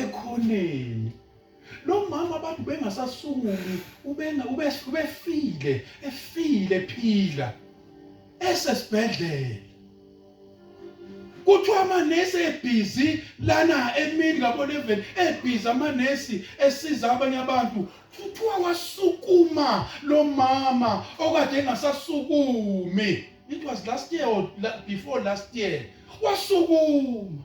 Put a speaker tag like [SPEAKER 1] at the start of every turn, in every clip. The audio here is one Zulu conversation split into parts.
[SPEAKER 1] ekhoneni lo mama abantu bengasasunguli ubenga ubefile efile phila esesibhedlela kuthiwa amanesi ebhizi lana emini kaboleven ebhizi amanesi esiza abanye abantu kuthiwa wasukuma lo mama okade engasasukumi it was last year or before last year wasukuma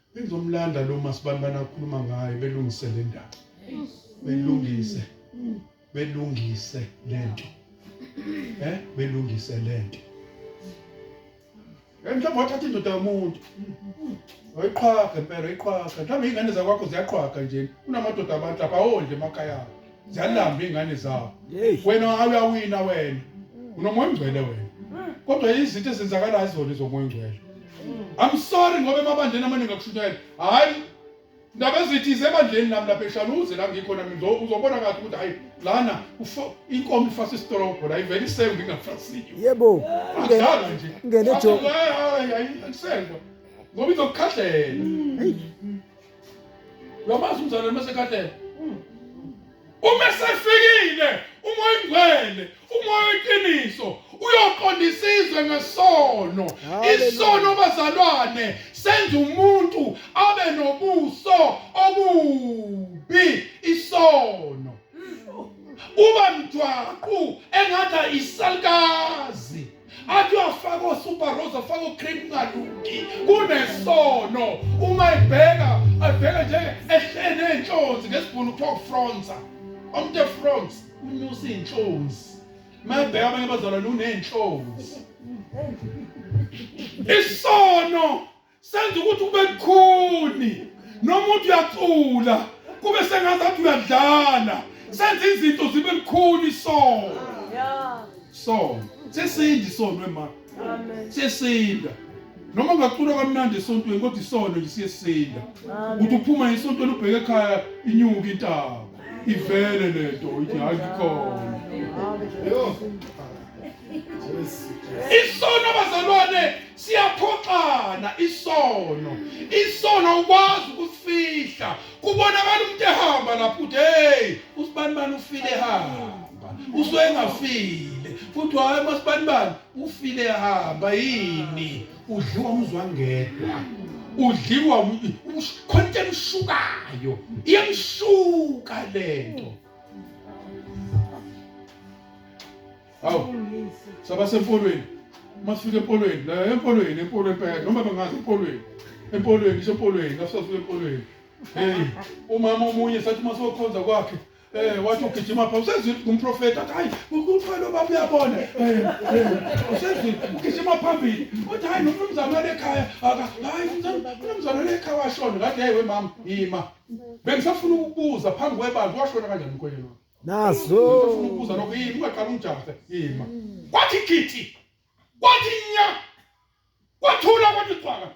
[SPEAKER 1] Bengizomlanda lo masibani banakhuluma ngaye belungise le ndaba. Belungise. Belungise lento. Eh, belungise lento. Mhlawumbe wathatha indoda yomuntu. Wayiqhaga impela, iqhaga. Mhlawumbe ingane zakwakho ziyaqhaga nje. Kunamadoda abantu lapha awondle emakhaya abo. ziyalamba iy'ngane zawo wena awuyawina wena unomoya ongcwele wena kodwa izinto ezenzakalayo zona izomoya ongcwele i'm sorry ngoba emabandleni amaningi akushunyayela hhayi ndaba ezithize ebandleni nami lapha eshaluze la ngikhona mina uzobona kahle ukuthi hayi lana inkomo ifasa isitolobho la ivele isengwe ingafasiyo yebo
[SPEAKER 2] adlala nje
[SPEAKER 1] ngene jo hayi hayi isengwe ngoba izokukhahlela uyamazi umzalwane mesekhathele hmm. uma sefikile uma oyingcwele uma oyiqiniso uyoqonda isizwe ngesono isono bazalwane senza umuntu abe nobuso obubi isono uba mjwaqu engathi isalikazi athi uyafaka osuperose afake ocream kungalungi kunesono uma ebheka abheka nje ehleni ey'nhlonzi ngesibhunu kuthiwa ufronsa umuntu efronsa unyusa iy'nhlonzi uma ebheka abanye abazalwane uney'nhlonzi isono senza ukuthi kube lukhuni noma uthi uyacula kube sengazathi uyadlala senza izinto zibe lukhuni isono sono sesinda isono ema sesinda noma ungacula kamnandi esontweni kodwa isono lisiyesinda ukuthi uphuma esontweni ubheke ekhaya inyuka intaba ivele lento ithi hayi ikhona isono abazalwane siyaphoxana isono isono ukwazi ukusifihla kubonakala umuntu ehamba lapho uthi hey usibani bani ufile ehamba usuke engafile futhi hayi masibani bani ufile ehamba yini udliwa umzwangedwa udliwa khona into emshukayo iyamshuka lento Hawu. Saba sempolweni. Masifike empolweni, la empolweni, empolweni phela noma bangazi empolweni. Empolweni, isho empolweni, ngasifike empolweni. Hey, umama omunye sathi masokhonza kwakhe eh wathi ugijima pha usezwile ngumprofeta athi hayi uqala ubaba uyabona eh, eh usezwile ugijima phambili uthi hayi nomnumzane walekhaya aka hayi umnumzane walekhaya washona ngathi hey we mama yima bengisafuna ukubuza phambi kwebantu washona kanjani mkhweleni wakho nazo
[SPEAKER 2] ubuza lokho
[SPEAKER 1] yini ungaqala umjahe yima kwathi githi kwathi nya kwathula kwathi xwaka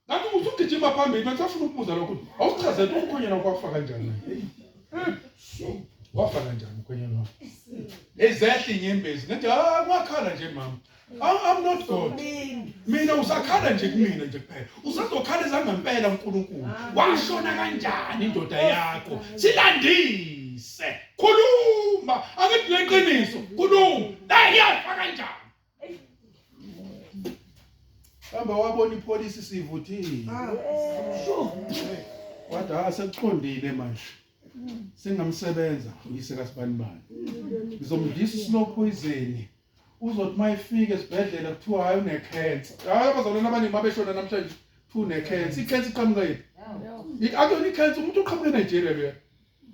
[SPEAKER 1] ngathi usugijima phambili manje afuna ukubuza lokho awuchaze ukuthi umkhonyana kwafa kanjani so wafa kanjani umkhonyana wakho ezehla inyembezi ngathi ah kwakhala nje mama I'm not God. Mina usakhala nje kumina nje kuphela. Usazokhala ezangempela uNkulunkulu. Washona kanjani indoda yakho? Silandise. Khuluma, angithi leqiniso. Khuluma. Hey, yafa kanjani? Hamba wabona ipolice sivuthile. Ah, sure. Wathi ha ah, sekuqondile manje. Singamsebenza uyise kaSibanibani. Ngizomdlisa isilo poison. uzothi uma efika esibhedlela kuthiwa hayi unekhensa hayi abazalwane abaningi uma beshona namhlanje kuthiwa unekhensa ikhensa iqhamuka yiphi akuyona ikhensa umuntu uqhamuke enigeria loya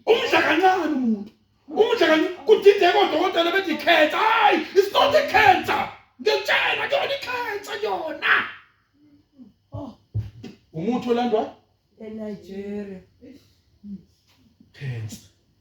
[SPEAKER 1] umdla kancane umuntu umdla kancane kudideka odokotela bethi ikhensa hayi it's not a cancer ngiyakutshela kuyona ikhensa yona oh. umuthi olandwa
[SPEAKER 3] enigeria
[SPEAKER 1] cancer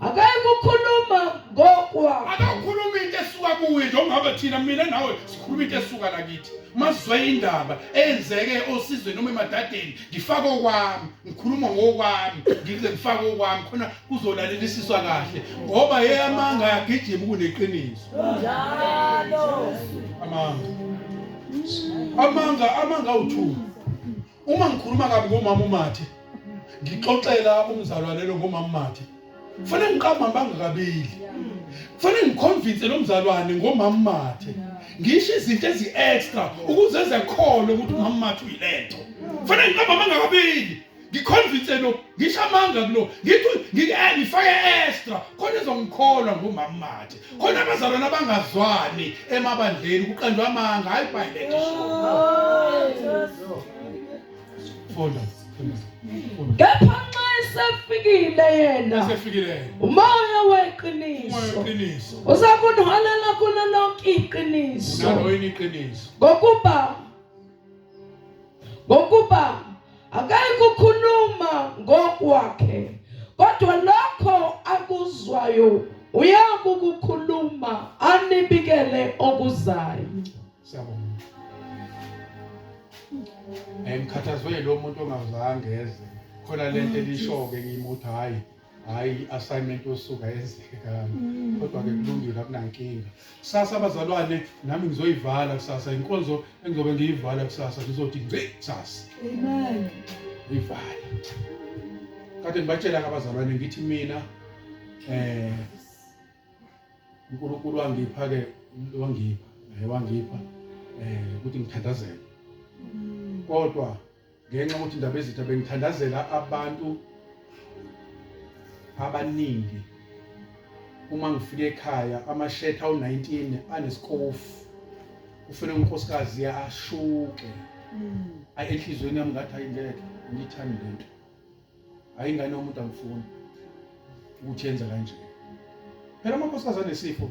[SPEAKER 2] akayikukhuluma ngokwakho akakhuluma into
[SPEAKER 1] esuka kuwe nje ongabe thina mina nawe sikhuluma into esuka lakithi mazwe indaba eyenzeke osizweni noma emadadeni ngifake okwami ngikhuluma ngokwami ngize ngifake okwami khona kuzolalelisiswa kahle ngoba yeyamanga yagijima kuneqiniso njalo amanga amanga amanga uthuka uma ngikhuluma kabi ngomama umathe ngixoxela umzalwane lo ngomama umathe kufanele ngiqamba bangakabili kufanele ngiconvince lo mzalwane ngomama umathe ngisho izinto ezi-extra ukuze ezekholwe ukuthi umama umathe uyilento kufanele ngiqamba bangakabili ngiconvince lo ngisho amanga kulo ngithi ngifake extra khona ezongikholwa ngomama umathe khona abazalwane abangazwani emabandleni kuqanjwa amanga hayi ibhayibhele
[SPEAKER 2] funda kepha nxa esefikile yena umoya weqiniso uza kunholela kulo lonke iqiniso ngokuba ngokuba akayi kukhuluma ngokwakhe kodwa lokho akuzwayo uyakukukhuluma anibikele okuzayo siyabonga ngikhathazwe
[SPEAKER 1] lo muntu ongazange eze khona lento elishoke ngimuthi hayi hayi assignment yosuka yenzeke kani mm. kodwa ke kulungile akunankinga kusasa abazalwane nami ngizoyivala kusasa inkonzo engizobe ngiyivala kusasa ngizothi ngci kusasa amen uyivala kade ngibatshela abazalwane ngithi mina eh uNkulunkulu wangipha ke wangipha eh, wangipha eh ukuthi ngithandazele mm. kodwa ngenxa yokuthi indaba ezitha bengithandazela abantu abaningi uma ngifika ekhaya amashetha awu-19 anesikofu ufune unkosikazi ashuke hmm. ayi enhliziyweni yami ngathi hayi ngeke ngiyithandi le nto hayi ingane yomuntu angifuni ukuthi yenza kanje phela amakhosikazi anesifo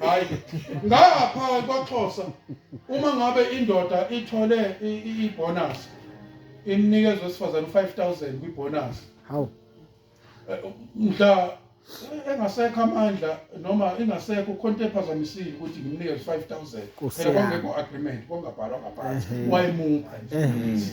[SPEAKER 1] hayi ngapha kwaXhosa uma ngabe indoda ithole ibonus imnikeza wesifazane 5000 kwibonus hawu eh, mhla eh, engasekho amandla noma ingasekho khonto ephazamisile ukuthi ngimnikeze 5000 phela kwangekho agreement kwangabhalwa ngaphansi wayemupha nje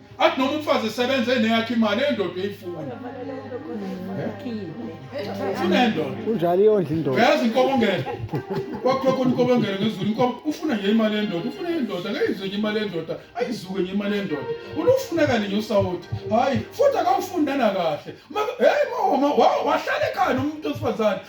[SPEAKER 1] athi noma umfazi esebenza eneyakhe imali endoda eyifuna ufuna endoda unjalo iyondla indoda
[SPEAKER 4] uyazi inkobongela
[SPEAKER 1] kwakhulwa khona inkobongela ngezulu inkobo ufuna nje imali yendoda ufuna yendoda ngeyizwe nje imali yendoda ayizuke nje imali yendoda ulufunekani nje usawoti hhayi futhi akawufundana kahle heyi wahlala ekhaya nomuntu wesifazane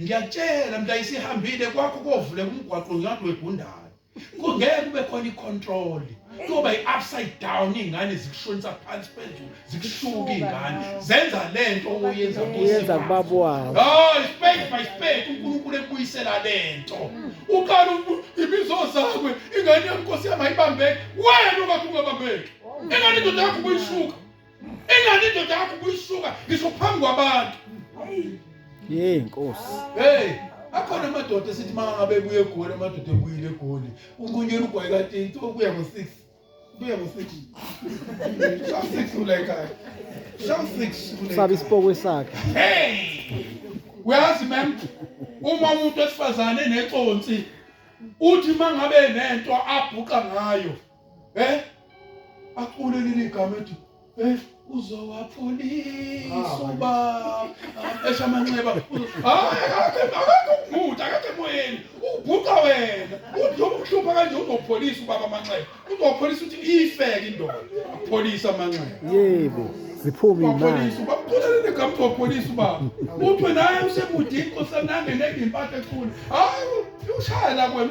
[SPEAKER 1] ngiyakutshela mntu ayisihambile kwakho kovule kumgwaqo ngiyathi wegundala kungeke kube khona icontrol kuyoba i-upside down iy'ngane zikushonisa phansi phezulu zikushuka iy'ngane zenza le nto oyenza yenza kubaba
[SPEAKER 4] wawo hayi spade by
[SPEAKER 1] spade unkulunkulu ekubuyisela le nto uqala ibizo zakwe ingane yami nkosi yami ayibambeki wena ungathi ungabambeki ingane indoda yakho kuyishuka Ingane indoda yakho kuyisuka ngisho phambi kwabantu. Hey Nkosi.
[SPEAKER 4] Hey,
[SPEAKER 1] akhona amadoda esithi mangabe buye egoli amadoda ebuyile egoli. Unqunyela ugwayi kanti into okuya ngo6. Kuya ngo6. Shawu 6 ula ekhaya. Shawu 6. Sabe isipokwe
[SPEAKER 4] sakhe. Hey!
[SPEAKER 1] Uyazi mem uma umuntu esifazane neconsi uthi mangabe nento abhuqa ngayo eh acule leli igama ethi eh uzowapholisa uba esha amanxeba hayi akakhe akakhe ubhuti akakhe moyeni ubhuqa wena uthi ukuhlupha kanje uzopholisa ubaba amanxeba uzopholisa ukuthi iyifeke indoda apholisa amanxeba yebo
[SPEAKER 4] ziphume imali upholisa ubaba uqulele
[SPEAKER 1] negama uzopholisa ubaba uthi wena hayi usemude inkosi anange nenge impathe ekhulu hayi ushaya la kwena